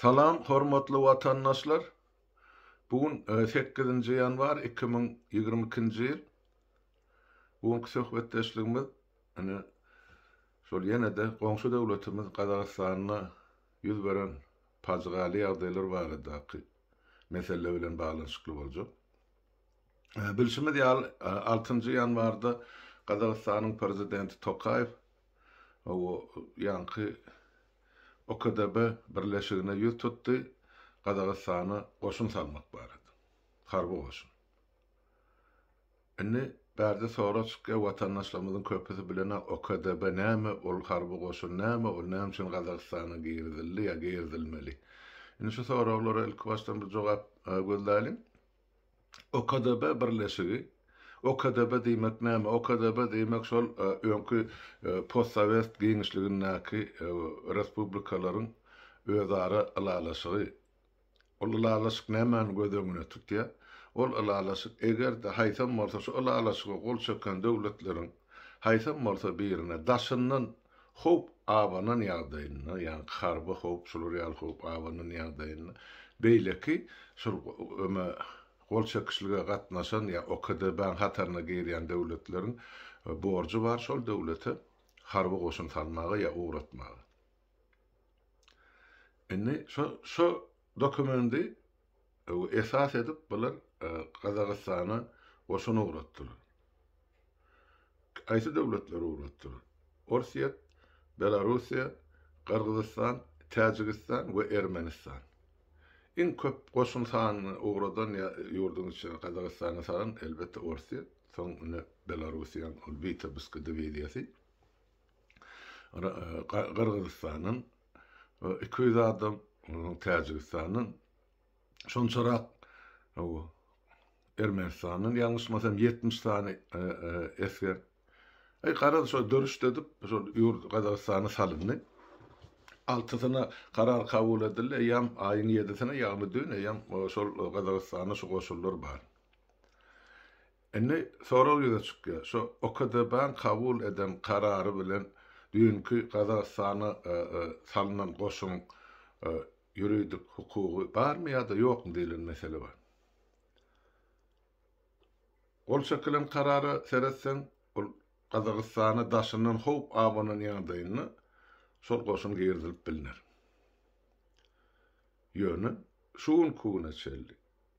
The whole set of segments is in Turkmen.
Salam hormatly watandaşlar! Bu gün sekizinji ýanwar iki müň ýigrimi ikinji ýyl. Bu günki söhbetdeşligimiz ine şol ýene-de goňşy döwletimiz Gazagystanda ýüz beren pajygaly ýagdaýlar baradaky mesele bilen baglanyşykly boljak. Bilşimiz ýaly, altynjy ýanwarda Gazagystanyň Prezidenti Tokaýew Hawa, ýaňky OKDB birleşigine ýüz tutdy, Gazagystana goşun salmak barada, harby goşun. Indi bärde sorag çykýar, watandaşlarymyzyň köpüsi bilenä OKDB näme, ol harby goşun näme, ol näme üçin Gazagystana girizildi ýa girizilmeli? Indi şu soraglara ilkibaşdan bir jogap gözläliň. OKDB birleşigi, OKDB diýmek näme? OKDB diýmek şol öňki postsowet giňişligindäki respublikalaryň özara ylalaşygy. Ol ylalaşyk nämäni göz öňüne tutýar? Ol ylalaşyk eger-de haýsam bolsa şu ylalaşyga gol çeken döwletleriň haýsam bolsa birine daşyndan Howp abanan ýagdaýynda, ýagny harby howp, şular ýaly howp abanan ýagdaýynda, beýleki şol öme gol çekişlige gatnaşan ýa OKDB-niň hataryna girýän döwletleriň borjy bar şol döwlete harby goşun salmaga ýa ugratmaga. Indi şo şo dokumendi esas edip bular Gazagystana goşun ugratdylar. Haýsy döwletler ugrukdyr? Orsýet, Belarussiýa, Gyrgyzystan, Täjigistan we Ermenistan. Iň köp goşun sanyny ugradan ýurduň içinde Gazagystany salan, elbetde, Orsýet, soň ine Belarussiýanyň ol Witebsk diwiziýasy, Gyrgyzystandan iki ýüz adam, Täjigistandan şonçarak Ermenistandan ýalňyşmasam 70 sany esger. Aý garaz şo dörüşde edip şo ýurt Gazagystana salyndy. Altysyna karar kabul edildi. Eýýäm aýyň ýedisine ýagny dün eýýäm şol Gazagystana şu goşunlar bar. Indi sorag ýüze çykýar. Şo OKDB-niň kabul eden karary bilen düýnki Gazagystana salynan goşun ýuridik hukugy barmy ýa-da ýokmy diýlen mesele bar. Gol çekilen karara seretseň, ol Gazagystana daşyndan howp abanan ýagdaýynda şol goşun girizilip bilner. Ýöne şu günki güne çenli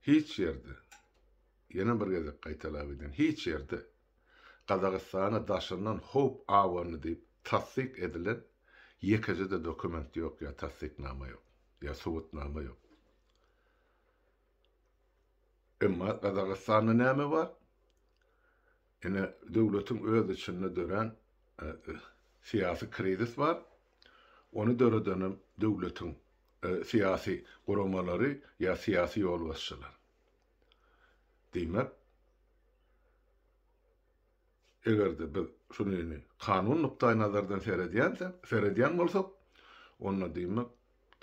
hiç ýerde, ýene bir gezek gaýtalap edýän, hiç ýerde Gazagystana daşyndan howp abandy diýip tassyk edilen ýekeje-de dokument ýok ýa tassyknama ýok, ýa subutnama ýok. Emma Gazagystanda näme bar? Ine, döwletiň öz içinde dörän syýasy krizis bar. Ony döredenem döwletiň syýasy guramalary ýa syýasy ýolbaşçylar. Diýmek, eger-de biz şu düni kanun nukdaýnazardan seredýänsek, seredýän bolsak, onda diýmek,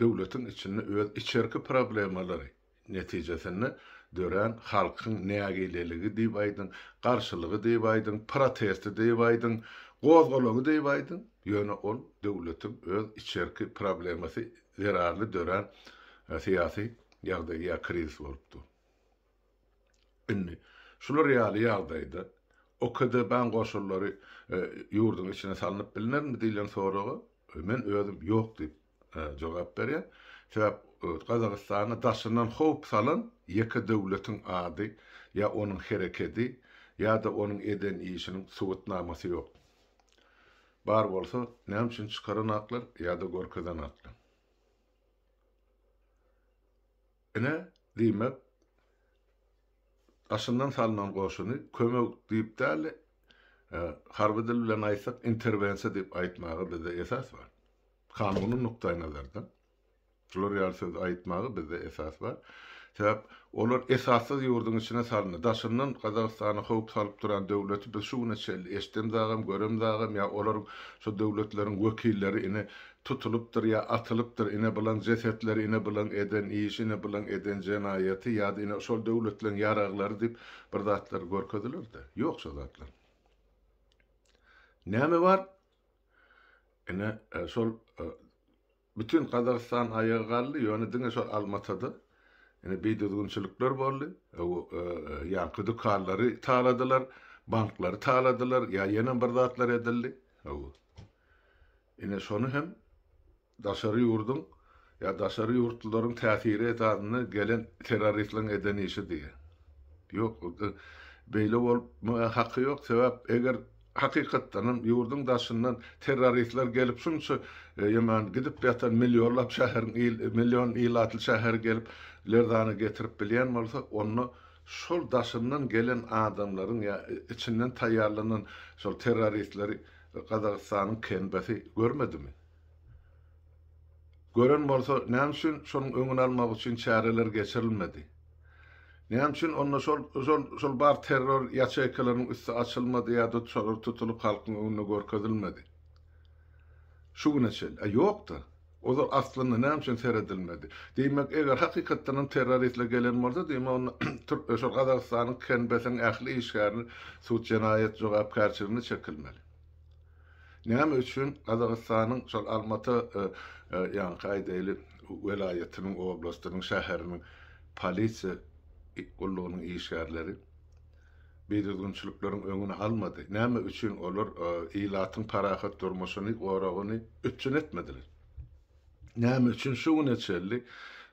döwletiň içinde öz içerki problemalary netijesinde dörän halkyň nägileligi diýip aýdyň, garşylygy diýip aýdyň, protesti diýip aýdyň, gozgalaňy diýip aýdyň, ýöne ol döwletiň öz içerki problemasy zerarly dörän syýasy ýagdaý ýa krizis bolup dur. Indi şular ýaly ýagdaýda OKDB-nyň goşunlary ýurduň içine salnyp bilnermi diýlen soraga men özüm ýok diýip jogap berýän. Sebäp Gazagystana daşyndan howp salan ýeke döwletiň ady ýa onuň herekedi ýa-da onuň eden işiniň subutnamasy ýok. Bar bolsa näme üçin çykaran aklar ýa-da görkezen aklar. Ine, diýmek, daşyndan salnan goşuny kömek diýip däl-de, harby dil bilen aýtsak, interwensiýa diýip aýtmaga bizde esas bar. Kanuny nukdaýnazardan şular ýaly sözi aýtmaga bizde esas bar. Sebäp olar esassyz ýurduň içine salyndy. Daşyndan Gazagystana howp salyp duran döwleti biz şu güne çenli eşidemzagam, göremzagam ýa olaryň şu döwletleriň wekilleri ine tutulypdyr ýa atylypdyr, ine bulan jesetleri, ine bulan eden işi, ine bulan eden jenaýaty ýa-da ine şol döwletleriň ýaraglary diýip bir zatlar görkeziler-de. Ýok şo zatlar. Näme bar? Ine, şol bütin Gazagystan aýaga galdy, ýöne diňe şol Almatada ine bidüzgünçilikler boldy. Ýaňky dükanlary taladylar, banklary taladylar ýa ýene bir zatlar edildi. Ine şony hem daşary ýurduň ýa daşary ýurtlularyň täsiri esasynda gelen terroristliň eden işi diýýä. Ýok ol beýle bolmaga haky ýok sebäp eger hakykatdan hem ýurduň daşyndan terroristler gelip şunça ýaman gidip ýatan millionlap şäheriň il million ilatly şäheri gelip lerzana getirip bilýän bolsa onda şol daşyndan gelen adamlaryň ýa içinden taýýarlanan şol terroristleri Gazagystanyň KNB-si görmedimi? Gören bolsa, näme üçin şonuň öňüni almak üçin çäreler geçirilmedi? Näme üçin onda şol, şol, şol bar terror ýaçeýkalarynyň üsti açylmady ýa-da şolar tutulyp halkyň öňünde görkezilmedi? Şu güne çenli. A ýok-da. Ozal aslynda näme üçin seredilmedi? Diýmek, eger hakykatdanam terroristler gelen bolsa, diýmek onda türkmen şol Gazagystanyň KNB-siň ähli işgärini sud jenaýat jogapkärçiligine çekilmeli. Näme üçin Gazagystanyň şol Almata ýaňky aýdaýly welaýatynyň, oblastynyň, şäheriniň polisiýa gullugynyň işgärleri, bidüzgünçilikleriň öňüni almady, näme üçin olar ilatyň parahat durmuşyny, goragyny üpjün etmediler? Näme üçin şu güne çenli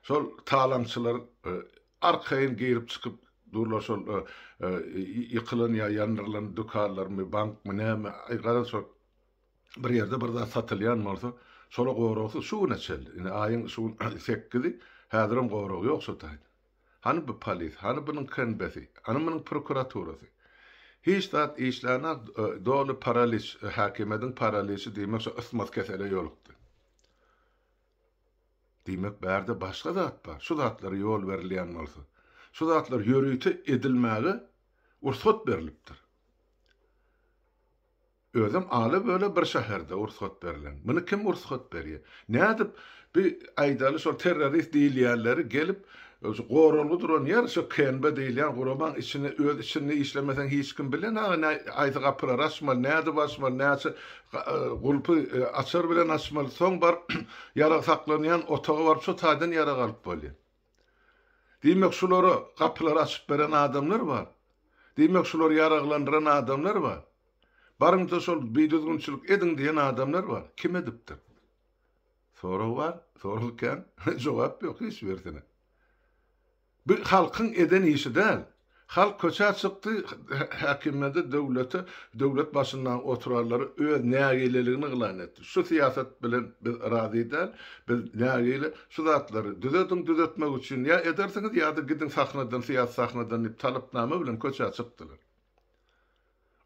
şol talaňçylar arkaýyn girip-çykyp durlar şol ýykylan ýa ýandyrylan dükanlarmy, bankmy, näme, aý, garaň şol bir ýerde bir zat satylýan bolsa, şola goragsyz şu güne çenli, indi aýyň şu gün sekizi, häzirem gorag ýok şo taýdan. Hany bu polis, hany bunuň KNB-si, hany munuň prokuraturasy? Hiç zat işlänok, doly paraliç, häkimiýediň paraliçi diýmek şo ysmaz kesele ýolukdy. Diýmek bärde başga zat bar, şu zatlara ýol berilýän bolsa, şu zatlar ýörite edilmäge ursat berlipdir. Özem ala-böle bir şäherde ursgat berlen. Muny kim ursgat berýär? Nädip bi aýdaly şol terrorist diýilýänleri gelip şu goralgy duran ýer şu KNB diýilýän guramaň içine öz içinde işlemeseň hiç kim bilen aga näý aýsy gapylary açmaly nädip açmaly näçe gulpy açar bilen açmaly soň baryp ýarag saklanýan otaga baryp şu taýdan ýarag alyp bolýar. Diýmek, şulara gapylary açyp beren adamlar bar. Diýmek, şulary ýaraglandyran adamlar bar. Baryňça şol bidüzgünçilik ediň diýen adamlar bar. Kim edipdir? Sorag bar, sorag kän, jogap ýok hiç birisine. Bu halkyň eden işi däl. Halk köçä çykdy, häkimiýete, döwlete, döwlet başyndaky oturanlara öz nägileligini yglan etdi. Şu syýasat bilen biz razy däl, biz nägile, şu zatlary düzediň, düzetmek üçin ýa edersiňiz ýa-da gidiň sahnadan, syýasy sahnadan diýip talapnama bilen köçä çykdylar.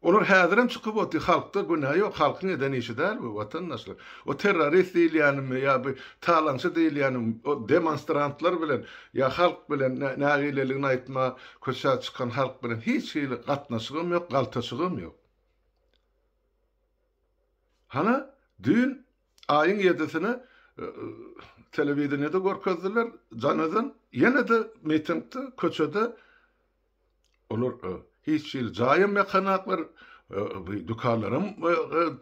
Olar häzirem çykyp otyr halkda günä ýok halkyň eden işi däl bu watandaşlar o terrorist diýilýänimi ýa bu talaňçy diýilýänimi o demonstrantlar bilen ýa halk bilen nägileligini aýtma köçä çykan halk bilen hiç hili gatnaşygam ýok galtaşygam ýok hana düýn aýyň ýedisine telewideniýede görkezdiler janadan ýene-de mitingde köçede Olar hiç hili jaýam ýakanaklar, dükanlaram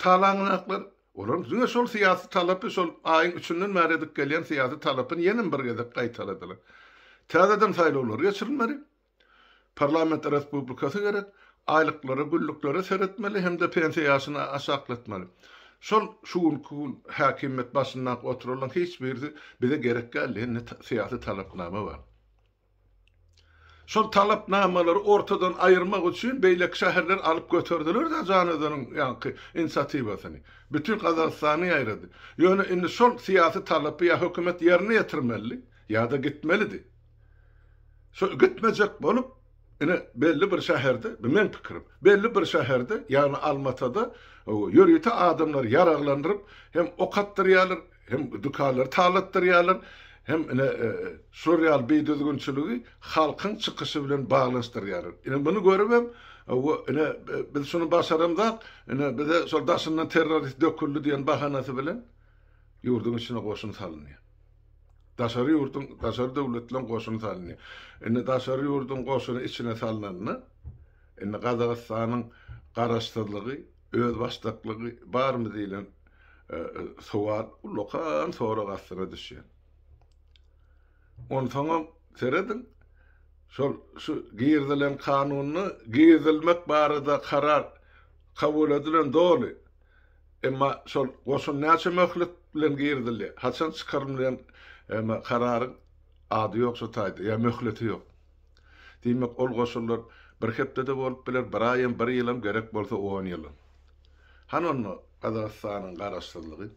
talaňanaklar. Olar diňe şol syýasy talapy şol aýyň üçünden bäri edip gelýän syýasy talapyny ýenem bir gezek gaýtaladylar. Täzeden saýlawlar geçirilmeli. Parlament respublikasy gerek. Aýlyklara, günlüklere seretmeli hem-de pensiýa ýaşyny aşaklatmaly. Şol şu günki gün häkimiýet başynda oturanlaryň hiç birisi bize gerek däl diýen syýasy talapnama bar. Şol talapnamalary ortadan aýyrmak üçin beýleki şäherler alyp göterdiler-de Janözeniň ýaňky inisiatiwasyny. Bütin Gazagystany ýaýrady. Ýöne indi şol syýasy talapy ýa hökümet ýerine ýetirmelidi, ýa-da gitmelidi. Şo gitmejek bolup, ine, belli bir şäherde, bu meň pikirim, belli bir şäherde, ýagny Almatada ýörite adamlary ýaraglandyryp, hem ok atdyrýarlar, hem dükanlary talatdyrýarlar, hem ine şular ýaly bidüzgünçiligi halkyň çykyşy bilen baglanyşdyrýarlar. Ine muny görübem, ine biz şuny başaramzok, ine bize şol daşyndan terrorist döküldi diýen bahanasy bilen ýurduň içine goşun salynýar. Daşary ýurduň, daşary döwletleriň goşuny salynýar. Indi daşary ýurduň goşuny içine salnanda, indi Gazagystanyň garaşsyzlygy, Özbaşdaklygy barmy diýlen sowal ullakan sorag astyna düşýär. Onsoňam serediň, şol şu girizilen kanunda girizilmek barada karar kabul edilen doly. Emma şol goşun näçe möhlet bilen girizilýär, haçan çykarylmaýan emma kararyň ady ýok şu taýda ýa möhleti ýok. Diýmek, ol goşunlar bir hepde-de bolup biler, bir aýam, bir ýylam, gerek bolsa on ýylam. Hany onda Gazagystanyň garaşsyzlygy?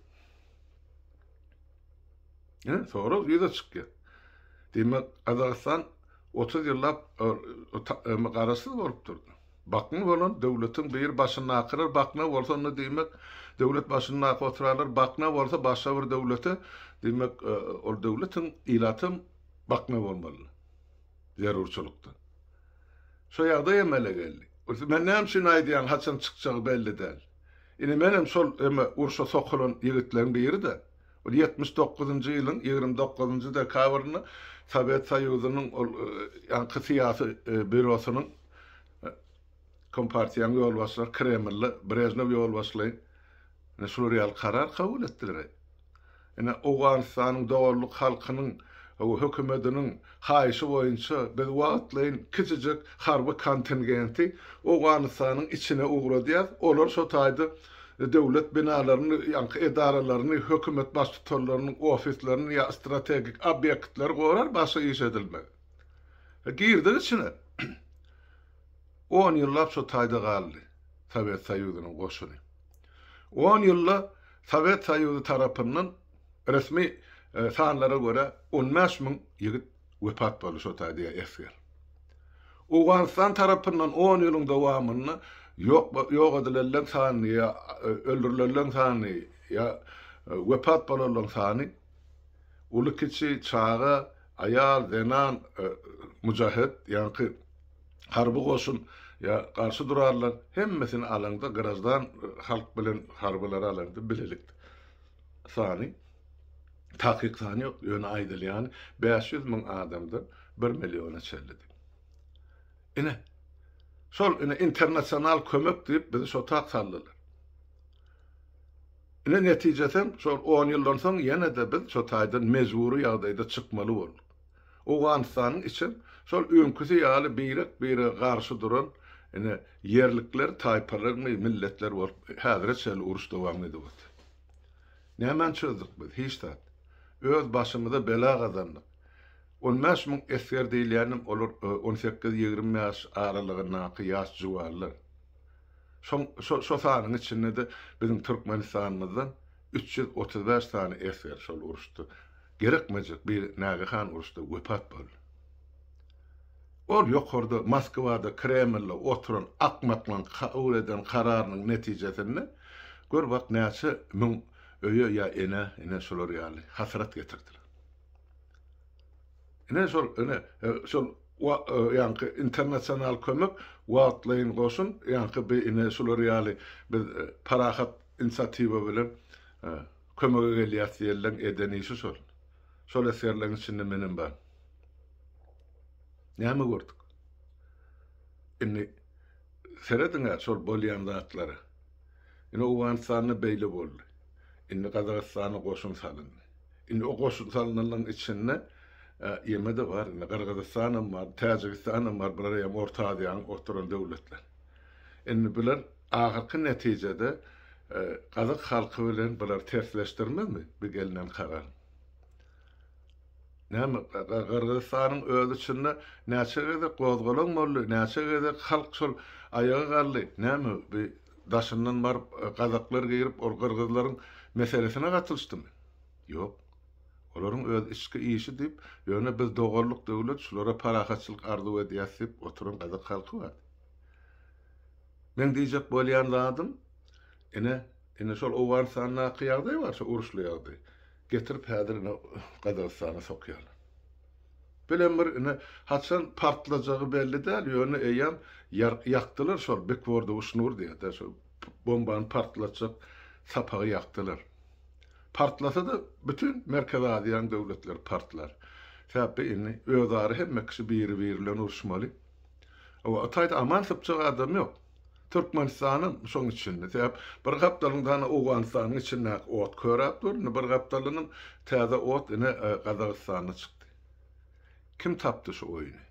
Hä? Sorag ýüze çykýar. Diýmek, Gazagystan otuz ýyllap garaşsyz bolup durdy. Bakmy bolan döwletiň biri başyndakylar bakna bolsa onda diýmek, döwlet başyndaky oturalar bakna bolsa başga bir döwlete, diýmek, ol döwletiň ilatam bakna bolmaly. zerurçylykdan. Şo ýagdaý emele geldi. Gülsüm, Sen näme üçin aýdýaň, haçan çykjagy belli däl. Ine, menem şol eme urşa sokulan ýigitleriň biri-dä. Ol ýetmiş dokuzynjy ýylyň ýigrimi dokuzynjy dekabrynda Sowet Soýuzynyň ol ýaňky syýasy býurosynyň Kompartiýanyň ýolbaşçylary Kremlde Brežnew ýolbaşçylaýyn ine şular ýaly karar kabul etdiler-eý. Ine, Owganystanyň doganlyk halkynyň we hökümetiniň haýyşy boýunça biz wagtlaýyn kiçijek harby kontingenti Owganystanyň içine ugradýarys. Olar şo taýda döwlet binalaryny, ýaňky edaralaryny, hökümet baştutanlarynyň ofislerini ýa strategik obýektleri gorar, başga iş edilmez. Girdik içine. On ýyllap şo taýda galdy Sowet Soýuzynyň goşuny. On ýylda Sowet Soýuzy tarapyndan, resmi sanlara görä, on bäş müň ýigit wepat boldy, şo taýda esger. Owganystan tarapyndan on ýylyň dowamynda ýok edilenleň sany ýa öldürilenleň sany ýa wepat bolanlaň sany, Uly-kiçi, çaga, aýal, zenan, mujahet, ýaňky harby goşun ýa garşy durarlar, hemmesini alaňda, graždan halk bilen harbylary alaňda bilelik sany, takyk sany ýok, ýöne aýdylýany bäş ýüz müň adamdan bir milliona çenlidi. Ine, şol ine internasional kömek diýip bizi şo tak saldylar. Ine netijesem şol on ýyldan soň ýene-de biz şo taýdan mejbury ýagdaýda çykmaly bolduk. Owganystanyň içem şol öňküsi ýaly birek-birege garşy duran ine ýerlikler, taýpalarmy, milletler bolup häzire çenli uruş dowam edip otyr. Nämäni çözdük biz? Hiç zat. Öz başymyza bela gazandyk. On bäş müň esger diýilýänem olar on sekiz, ýigrimi ýaş aralygyndaky ýaş juwanlar. Şoň şo şo sanyň içinde-de biziň Türkmenistanymyzdan üç ýüz otuz bäş sany esger şol uruşda gerekmejek bir nägehan uruşda wepat boldy. Ol ýokarda Moskwada, Kremlde oturan akmaklaň kabul eden kararynyň netijesinde gör wak näçe müň öýe ýa enä ine şular ýaly hasrat getirdiler. Ine şol, ine, şol wa, ýaňky internasional kömek, wagtlaýyn goşun, ýaňky bi, ine, şular ýaly biz parahat insiatiwa bilen kömege gelýäs diýenleň eden işi şol. Şol esgerleň içinde menem bar. Näme gördük? Indi serediň-ä şol bolýan zatlara. Ine Owganystanda beýle boldy. Indi Gazagystana goşun salyndy. Indi o goşun salynanlaryň içinde ýeme-de bar, indi Gyrgyzystanam bar, Täjigistanam bar, bular eýýäm Orta Aziýanyň oturan döwletleri. Indi bular ahyrky netijede gazak halky bilen bulary tersleşdirmezmi bu gelnen karar? Näme, Gyrgyzystanyň özi içinde näçe gezek gozgalaň boldy, näçe gezek halk şol aýaga galdy, näme bu daşyndan baryp gazaklar girip ol gyrgyzlaryň meselesine gatylyşdymy? Ýok. Olaryň öz içki işi diýip ýöne biz doganlyk döwlet şulara parahatçylyk arzuw edýäs diýip oturan gazak halky bar. Meň diýjek bolýan zadym ine ine şol Owganystandaky ýagdaý bar şo uruşly ýagdaý getirip häzir ine Gazagystana sokýarlar. Bilen bir, ine, haçan partlajagy belli däl, ýöne eýýäm ýakdylar şol Bikwordy Uşnur diýýärdi, şol bombany partlatjak sapagy ýakdylar. Partlasa-da, bütin Merkezi Aziýanyň döwletleri partlar. Sebäpbi indi özara hemme kişi biri-biri bilen uruşmaly. Oba, Hytaýda aman sypjak adam ýok. Türkmenistana şoň içinde, sebäp bir gapdalyň dana Owganystanyň içindäki ot köräp dur, indi bir gapdalynyň täze ot ine Gazagystanda çykdy. Kim tapdy şu oýny?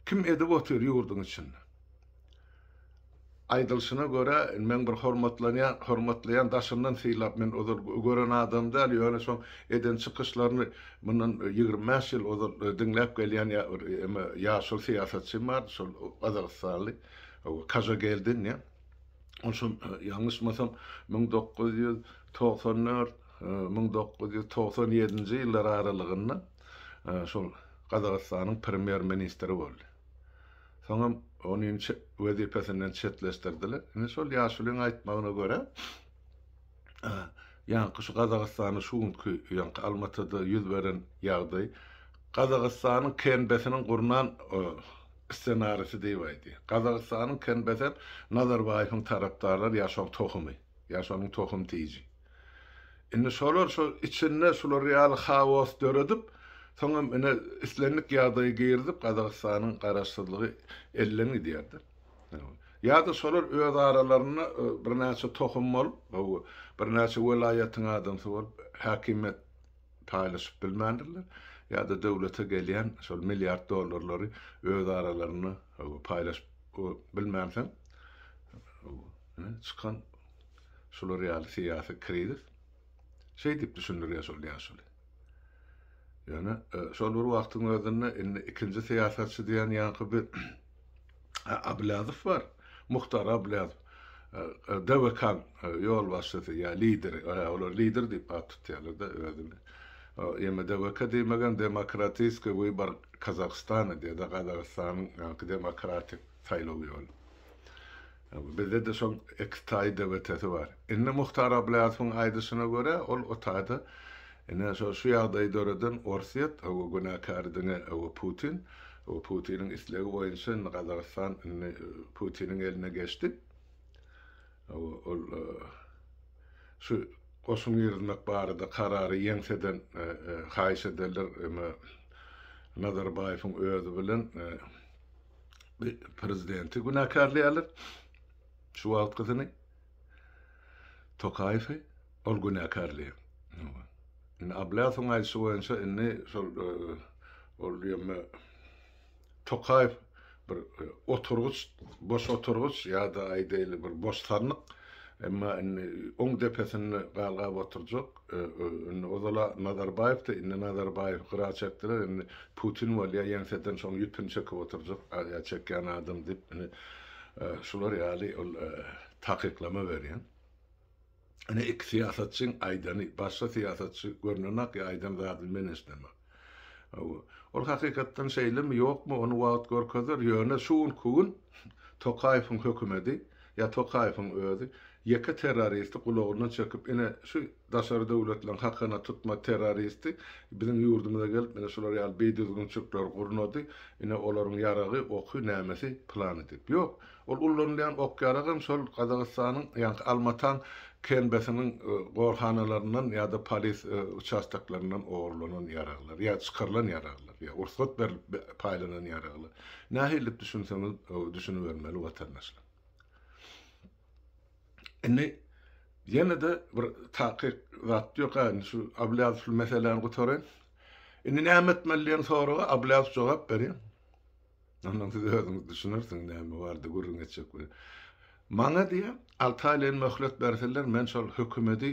Kim edip otyr ýurduň içinde? Aýdylşyna görä, indi meň bir hormatlanýan, hormatlaýan daşyndan sylap, men ozal gören adamym däl, ýöne şoň eden çykyşlaryny Mundan ýigrimi bäş ýyl ozal diňläp gelýän bir eme ýaşuly syýasatçym bardy, şol gazagystanly Kajageldin diýen. Ol şol ýalňyşmasam müň dokuz ýüz togsan dört, müň dokuz ýüz togsan ýedinji ýyllar aralygynda şol Gazagystanyň premýer ministri boldy. Soňam ony wezipesinden çetleşdirdiler. Indi şol ýaşulyň aýtmagyna görä, Ýaňky şu Gazagystanda şu günki ýaňky Almatyda ýüz beren ýagdaý Gazagystanyň KNBS-niň gurnan ssenarisi diýip aýdy. Gazagystanyň KNBS hem Nazarbaýewiň tarapdarlary ýa şoň tohumy, ýa şonuň tohum tiji. Indi şolar şo içinde şular ýaly haos döredip, soň hem ine islendik ýagdaýy girizip Gazagystanyň garaşsyzlygy elden gidýär-de. Ýa-da şolar öz aralarynda birnäçe tohum bolup, birnäçe welaýatyň adamsy bolup, häkimiýet paýlaşyp bilmändirler, ýa-da döwlete gelýän şol milliard dollarlary öz aralarynda paýlaşyp bilmänsoň, ine, çykan şular ýaly syýasy krizis. Şeý diýip düşündirýär şol ýaşuly. Ýöne şol bir wagtyň özünde indi ikinji syýasatçy diýen ýaňky bir Ablazow bar. Muhtar Ablazow. DWK ýolbaşçysy ýa lideri. Olar lider diýip at tutýarlar-da özüni. Ýöne DWK diýmegem Demokratiskiý wybar Kazahstana diýýär-de, Gazagystanyň ýaňky demokratik saýlaw ýoly. Bizde-de şol iki taý debetesi bar. Indi Muhtar Ablyýasowyň aýdyşyna görä, ol o taýda ine şo şu ýagdaýy döreden Orsýet, günäkäri diňe Putin. Putiniň islegi boýunça indi Gazagystan indi Putiniň eline geçdi. Ol şu goşun girizmek barada karary ýeňseden haýyş ederler, emma Nazarbaýewiň özi bilen prezidenti günäkärleýärler. Şu wagtkysyny Tokaýewi ol günäkärleýär. Indi Ablasowyň aýdyşy boýunça indi şol e, ol ýöme Tokaýew bir e, oturgyç, boş oturgyç ýa-da aýdaýly bir boş sandyk. Emma indi oň depesinde galgap oturjak. Ozala Nazarbaýewdi, indi Nazarbaýew gyra çekdiler, indi Putin bolýa ýeňseden şoň ýüpüni çekip oturjak, aziýa çekýän adam diýip, indi şular ýaly ol takyklama berýän. Ine iki syýasatçyň aýdany, başga syýasatçy görnenak ýa aýdan zadyny men eşdenak. Ol hakykatdan şeýlemi, ýokmy, ony wagt görkezer, ýöne şu günki gün Tokaýewiň hökümedi ýa Tokaýewiň özi ýeke terroristi gulagyndan çekip, ine, şu daşary döwletleriň hakana tutma terroristi biziň ýurdumyza gelip, ine, şular ýaly bidüzgünçilikleri gurnady, ine, olaryň ýaragy, oky, nämesi, plany diýip. Ýok! Ol ullanylýan ok-ýaragam şol Gazagystanyň, ýagny Almatan KNB-siniň gorhanalaryndan ýa-da polis uçastoklaryndan ogurlanan ýaraglar, ýa çykarylan ýaraglar, ýa rugsat berilip paýlanan ýaraglar. Nähili diýip düşünseňiz düşünibermeli watandaşlar. Indi ýene-de bir takyk zat ýok-a, indi şu Abylýazow şu meseläni gutaraýyn. Indi näme etmeli diýen soraga Abylýazow jogap berýär. Ondan siz özüňiz düşünersiňiz näme barada gürrüň etjek bilen. Maňa diýe alty aýlaýyn möhlet berseler men şol hökümedi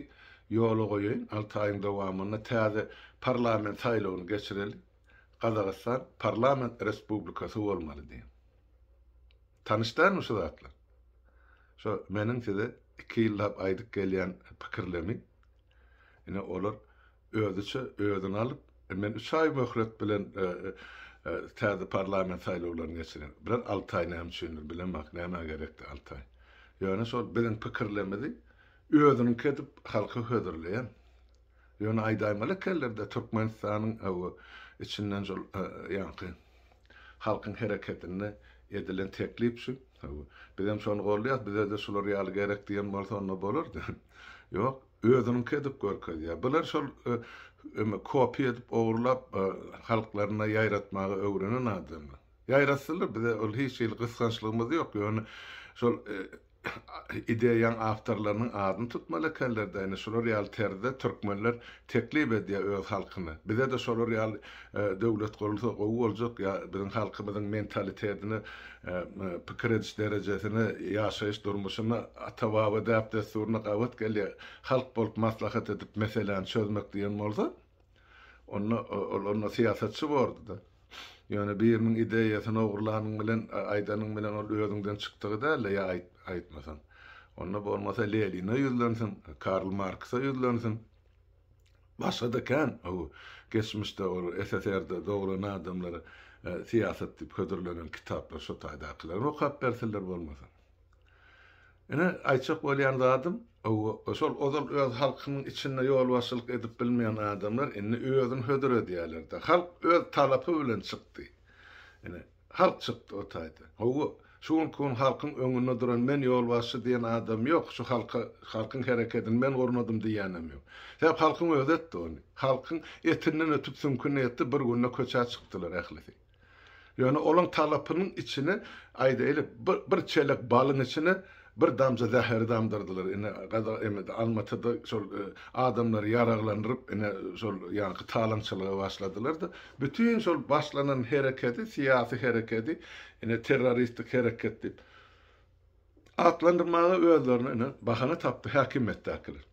ýola goýaýyn, alty aýyň dowamynda täze parlament saýlawyny geçireli, Gazagystan parlament respublikasy bolmaly diýen. Tanyş dälmi şu zatlar? Şo meniň size iki ýyllap aýdyp gelýän pikirlemi. Ine olar özüçe özüni alyp, men üç aý möhlet bilen täze parlament saýlawlaryny geçirerin. Biraz alty aý näme üçindir bilemok, nämä gerekdi alty aý. Ýöne şol biziň pikirlemizi özüniňki edip halka hödürleýän. Ýöne aýdaýmaly ekellerde Türkmenistanyň içinden şol ýaňky Halkyň hereketinde edilen teklip şu. Bizem şony goldaýas, bize-de şular ýaly gerek diýen bolsa onda bolardy. Ýok, özüniňki edip görkezýär. Bular şol eme kopýa edip ogurlap halklaryna ýaýratmagy öwrenen adamlar. Ýaýratsylar bize ol hiç hili gysgançlygymyz ýok, ýöne şol ideýaň awtorlarynyň adyny tutmaly ekenler-de, ine, şular ýaly terzde türkmenler teklip edýär öz halkyny. Bize-de şolar ýaly döwlet gurulsa gowy boljak, ýa biziň halkymyzyň mentalitetine, pikir ediş derejesine, ýaşaýyş durmuşyna, ata-baba däp-dessuryna gabat gelýär. Halk bolup maslahat edip meseläni çözmek diýen bolsa, Onda ol onda syýasatçy bordy-da. Ýöne biriniň ideýasyny ogurlanyň bilen, aýdanyň bilen ol özüňden çykdygy däldi ýa aýtmasaň. Onda bolmasa Leline ýüzlensin, Karl Marksa ýüzlensin. Başga-da kän o geçmişde ol SSR-de dogran adamlara syýasat diýip hödürlenen kitaplar şo taýdakylaryny okap bersinler bolmasa. Ine, aýtjak bolýan zadym, şol ozal öz halkynyň içinde ýolbaşçylyk edip bilmeýän adamlar indi özüni hödür edýärler-de. Halk öz talapy bilen çykdy. Ine, halk çykdy o taýda. Hawa, şu günki gün halkyň öňünde duran men ýolbaşçy diýen adam ýok, şu halka, halkyň herekedini men gurnadym diýýänem ýok. Sebäp halkyň özi etdi ony. Halkyň etinden ötüp süňküni etdi, bir günde köçä çykdylar ählisi. Ýöne olaň talapynyň içine, aýdaýly, bir çelek balyň içine bir damja zäheri damdyrdylar. Ine, Gazag emedi. Almatyda şol adamlary ýaraglandyryp, ine, şol ýaňky talaňçylyga başladylar-da, bütin şol başlanan herekedi, syýasy herekedi, ine, terroristik hereket diýip atlandyrmaga özlerine, ine, bahana tapdy häkimiýetdäkiler.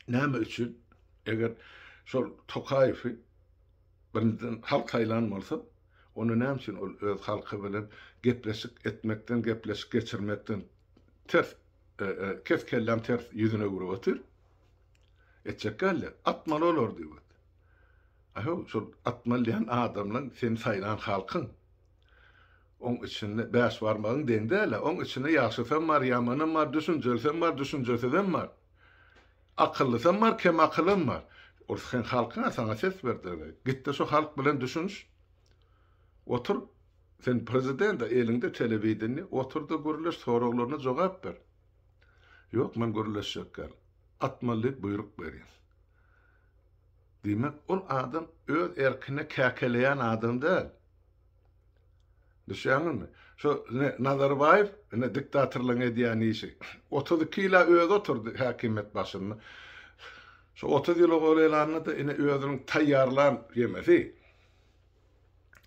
Näme üçin? Eger şol Tokaýewi Birinjiden halk saýlan bolsa, onda näme üçin ol öz halky bilen gepleşik etmekden, gepleşik geçirmekden ters, kes kelläm ters ýüzüne öwrüp otyr? Etjek däldi. Atmaly olar diýip otyr. Aýhow, şol atmaly diýen adamlaň seni saýlan halkyň. Oň içinde bäş barmagyň deň däl-ä. Oň içinde ýagşysam bar, ýamanam bar, düşünjelisem bar, düşünjesizem bar. Akyllysam bar, kem akylam bar. Ol sen halkyňa saňa ses berdireni. Gitde şo halk bilen düşüniş. Otur, sen prezident-a, eliňde telewideniýe, oturda gürleş, soraglaryna jogap ber. Ýok, men gürleşjek däl. Atmaly diýip buýruk beriň. Diýmek, ol adam öz erkine käkeleýän adam däl. Düşýäňizmi? Şu ine Nazarbaýew ine diktatorlaryň edýän işi. Otuz iki ýyla özi oturdy häkimiýet başynda. Şu otuz ýyla golaýlanda-da ine özüniň taýýarlan ýemesi,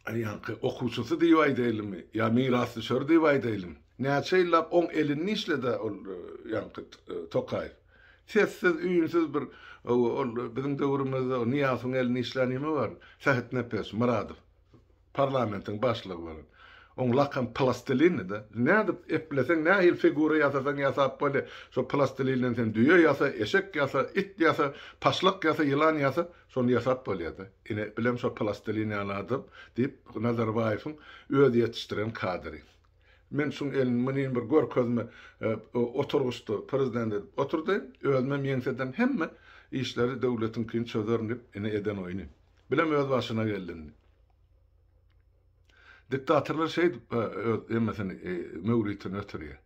aýaňky okuwçysy diýip aýdaýlymy ýa mirasdüşeri diýip aýdaýlymy, näçe ýyllap oň elinde işledi-ä ol ýaňky Tokaýew. Sessiz, üýnsüz bir ol biziň döwrümizde Nyýazowyň elinde işlän ýeme bardy. Sähetnepes Myradow. Parlamentiň başlygy bolan. Oň lakam Plastilinidi. Nädip epleseň, nähili figura ýasasaň ýasap bolýa. Şo plastilinden sen düýe ýasa, eşek ýasa, it ýasa, paşlak ýasa, ýylan ýasa, şony ýasap bolýada. Ine, bilem şo plastilin ýaly adam, diýip, Nazarbaýewiň özi ýetişdiren kadry. Men şuň elini munin bir görkezme oturgyçda prezident edip oturdy. Özümem ýeňsedem hemme işleri döwletiňkini çözerin diýip, ine eden oýny. Bilem öz başyna geldiň. Diktatorlar şeýdip öz emmesini möwritini ötürýär.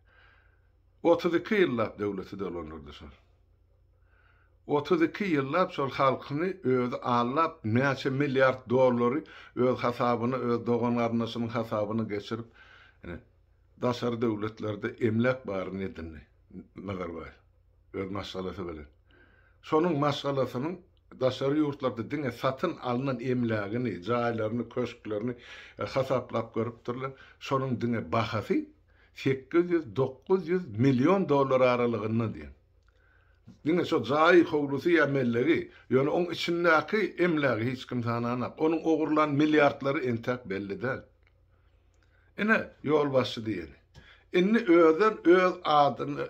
32 ýyllap döwleti dolandyrdy şol. 32 ýyllap şol halkyny özi allap, näçe milliard dollary öz hasabyna, öz dogan-garyndaşynyň hasabyna geçirip, ine, daşary döwletlerde emläk baryny edindi Nazarbaýew öz maşgalasy bilen. Şonuň maşgalasynyň Daşary ýurtlarda diňe satyn alnan emlägini, jaýlaryny, köşklerini hasaplap görüpdirler. Şonuň diňe bahasy sekiz ýüz, dokuz ýüz million dollar aralygynda diýen. Diňe şo jaýy, howlusy ýa mellegi, ýöne oň içindäki emlägi hiç kim sananok. Onuň ogurlan milliardlary entäk belli däl. Ine, ýolbaşçy diýeni. Indi özem öz adyny,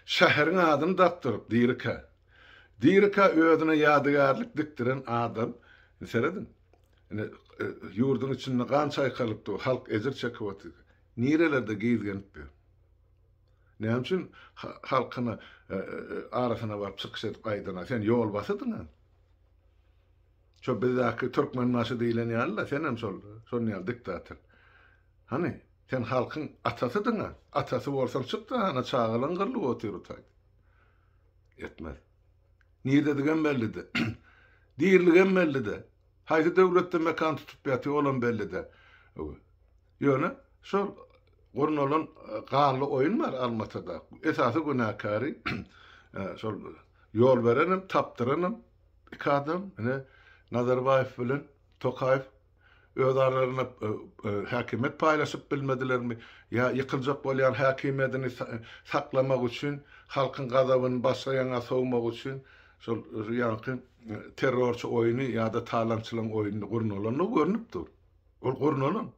şäheriň adyny dakdyryp, Dirikä. Dirikä özüne ýadygärlik dikdiren adam. Indi serediň. Indi ýurduň içinde gan çaýkalypdy, halk ejir çekip otyr. Nirelerde gizgenip ýör. Näme üçin halkyna arasyna baryp çykyş edip aýdana, sen ýolbasydyň-a. Şo bizdäki Türkmenbaşy diýilen ýaly-da, senem şol, şonuň ýaly diktator. Hany, sen halkyň atasydyň-a, atasy bolsaň çyk-da, hany çagalaň gyrlyp otyr utaýt. Etmez. Niredigem belli-de. Diriligem belli-de. Haýsy döwletde mekan tutup ýatyr, olam belli-de. Ýöne şol gurnalan gally oýun bar Almatada. Esasy günäkäri şol ýol berenem, tapdyranam iki adam, ine Nazarbaýew bilen Tokaýew öz aralarynda häkimiýet paýlaşyp bilmedilermi, ýa ýykyljak bolýan häkimiýedini saklamak üçin, halkyň gazabyny başga ýaňa sowmak üçin şol ýaňky terrorçy oýuny ýa-da talaňçylaň oýuny gurnalandygy görnüp dur. Ol gurnalan.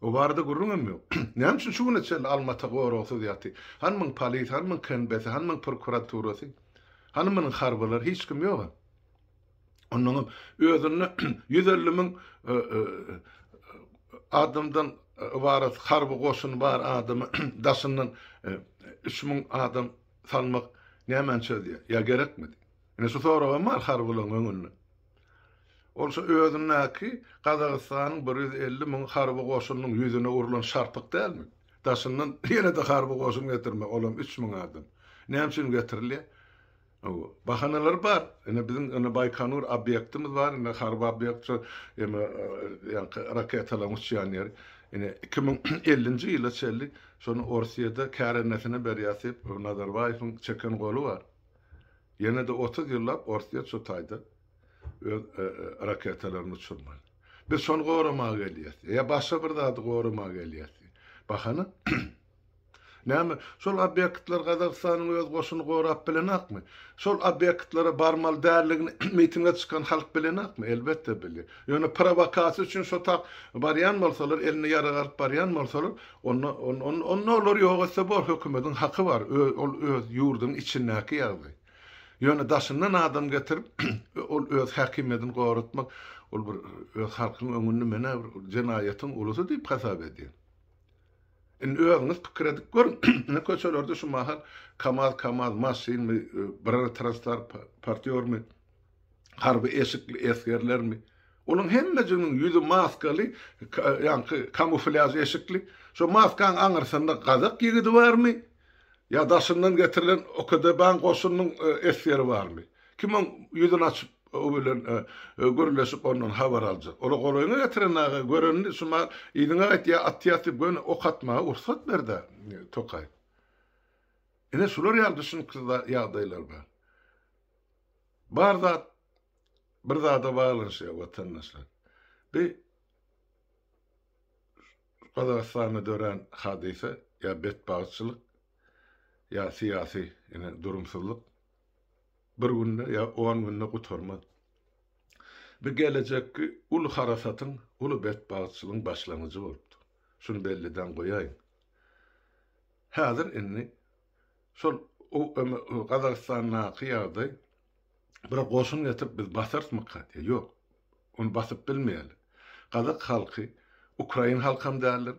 O barada gürrüň hem ýok. Näme üçin şu güne çenli Almata goragsyz ýatyr? Hany muň polisiýasy, hany muň KNB-si, hany muň prokuraturasy? Hany munyň harbylary? Hiç kim ýog-a. Onnoň hem özünde ýüz elli müň adamdan ybarat harby goşun bar adamy daşyndan üç müň adam salmak nämäni çözýär? Ýa gerekmidi? Ine şu soragam bar harbylaryň öňünde. Ol şu özündäki Gazagystanyň bir ýüz elli müň harby goşunynyň ýüzüne urlan şarpyk dälmi? Daşyndan ýene-de harby goşun getirmek, olam üç müň adam. Näme üçin getirilýär? Hawa, bahanalary bar. Ine, biziň indi Baýkonur obýektimiz bar, indi harby obýekt şu ýa-da ýaňky raketalaryň uçýan ýeri. Ine, iki müň ellinji ýyla çenli şony Orsýete kärendesinä berýäris diýip, Nazarbaýewiň çeken goly bar. Ýene-de otuz ýyllap Orsýet şu taýda öz raketalaryny uçurman. Biz şony goramaga gelýäs ýa başga bir zady goramaga gelýäs diýen bahana. Näme, şol obýektler Gazagystanyň öz goşuny gorap bilenokmy? Şol obýektlere barmaly däldigini mitinge çykan halk bilenokmy? Elbetde bilýär. Ýöne prowokasiýa üçin şo tak barýan bolsalar, elinde ýarag alyp barýan bolsalar, Onda, onda olar ýok etse bor, hökümediň haky bar, ol öz ýurduň içindäki ýagdy. Ýöne daşyndan adam getirip, ol öz häkimiýedini goratmak, ol bir öz halkyň öňünde menä bir jenaýatyň ulusy diýip hasap edýär. Indi özüňiz pikir edip görüň, indi köçelerde şu mahal kamaz-kamaz maşynmy, brer-transtar partýormy, harby eşikli esgerlermi, olaryň hemmejiginiň ýüzi maskaly, ýaňky kamuflýaž eşikli, şo maskaň aňyrsynda gazak ýigidi barmy, ýa daşyndan getirilen OKDB-nyň goşunynyň esgeri barmy? Kim oň ýüzüni açyp, o bilen gürleşip, ondan habar aljak? Ola golaýyňa getiren aga, görenini şumal yzyňa gaýt ýa at ýatyp göni ok atmaga ursat ber-dä, tokaý. Ine, şular ýaly düşünüksiz ýagdaýlar bar. Bar zat bir zada baglanyşýar watandaşlar. Bi Gazagystanda dörän hadysa ýa betbagtçylyk ýa syýasy ine durumsyzlyk bir günde ýa on günde gutarmaz. Bu gelejekki uly harasatyň, uly betbagtçylygyň başlangyjy bolupdyr. Şuny belliden goýaýyn. Häzir indi Şol Gazagystandaky ýagdaý bir goşun getirip biz basarysmyka diýýär. Ýok. Ony basyp bilmeýärler. Gazak halky ukrain halky hem däldir,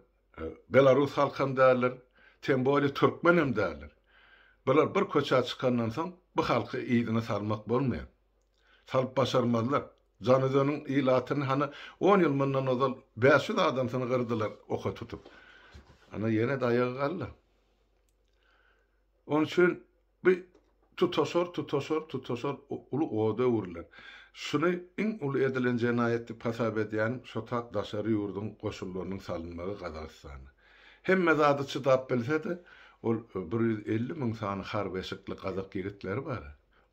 belarus halky hem däldir, tem bolýa türkmen hem däldir. Bular bir köçä çykandan soň bu halky yzyna salmak bolmaýar. Salyp başarmazlar. Janözeniň ilatyny hany on ýyl mundan ozal bäş ýüz adamsyny gyrdylar oka tutup. Ana ýene daýagy galdy. Onuň üçin bu tutaşar, tutaşar, tutaşar uly oda öwrüler. Şuny iň uly edilen jenaýat diýip hasap edýänim şotap daşary ýurduň goşunlarynyň salynmagy Gazagystana. Hemme zady çydap bilse-de, ol bir ýüz elli müň sany har beşikli gazak ýigitleri bar.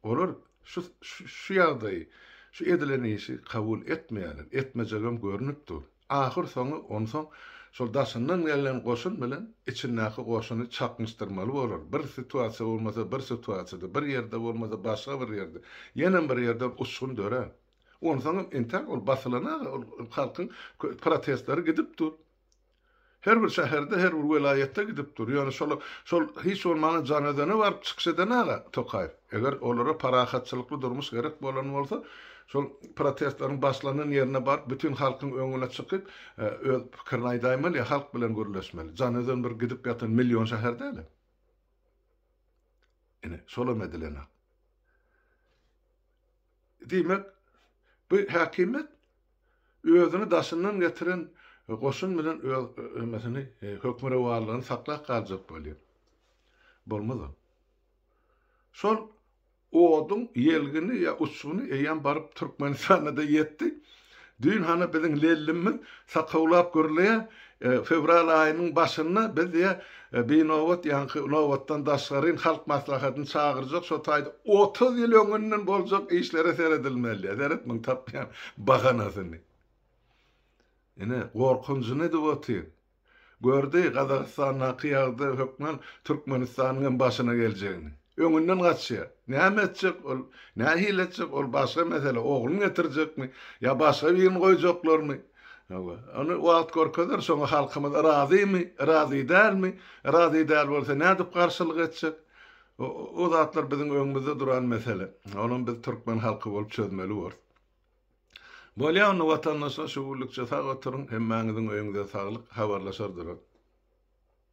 Olar şu şu ýagdaýy, şu edilen işi kabul etmeýärler, etmejegem görnüp dur. Ahyrsoňy onsoň şol daşyndan gelnen goşun bilen içindäki goşuny çaknyşdyrmaly bolar. Bir situasiýa bolmasa bir situasiýada, bir ýerde bolmasa başga bir ýerde, ýenem bir ýerden uçgun dörär. Onsoňam entäk ol basylan aga, ol halkyň protestleri gidip dur. Her bir şäherde, her bir welaýatda gidip dur. Ýöne şol şol hiç bolmanda Janözene baryp çykyş edenag-a Tokaýew. Eger olara parahatçylykly durmuş gerek bolan bolsa, şol protestleriň başlanan ýerine baryp, bütin halkyň öňüne çykyp, öz pikirini aýdaýmaly ýa halk bilen gürleşmeli. Janözen bir gidip ýatan million şäher däl-a. Ine, şolam edilenag. Diýmek, bu häkimiýet özüni daşyndan getiren goşun bilen öz emesini, hökmürowanlygyny saklap galjak bolýar. Bolmaz ol. Şol oduň ýelgini ýa uçguny eýýäm baryp Türkmenistana-da ýetdi. Düýn hany biziň Lellimmiz sakawlap gürleýär, Fewral aýynyň başynda biz diýe binobat ýaňky nobatdan daşgaryn halk maslahatyny çagyrjak şo taýda otuz ýyl öňünden boljak işlere seredilmeli diýe seret muň tapýan bahanasyny. Ine gorkunjyny edip otyr. Gördi Gazagystandaky ýagdy hökman Türkmenistanyň hem başyna geljegini. Öňünden gaçýa. Näme etjek ol nähili etjek ol başga mesele ogluny getirjekmi ýa başga birini goýjaklarmy. Hawa, ony wagt görkezer, şoňa halkymyz razymy, razy dälmi, razy däl bolsa nädip garşylyk etjek? O zatlar biziň öňümizde duran mesele. Onam biz türkmen halky bolup çözmeli borus. Bolýa onda watandaşlar şu günlükçe sag oturyň, hemmäňiziň öýüňize saglyk, habarlaşar durarys.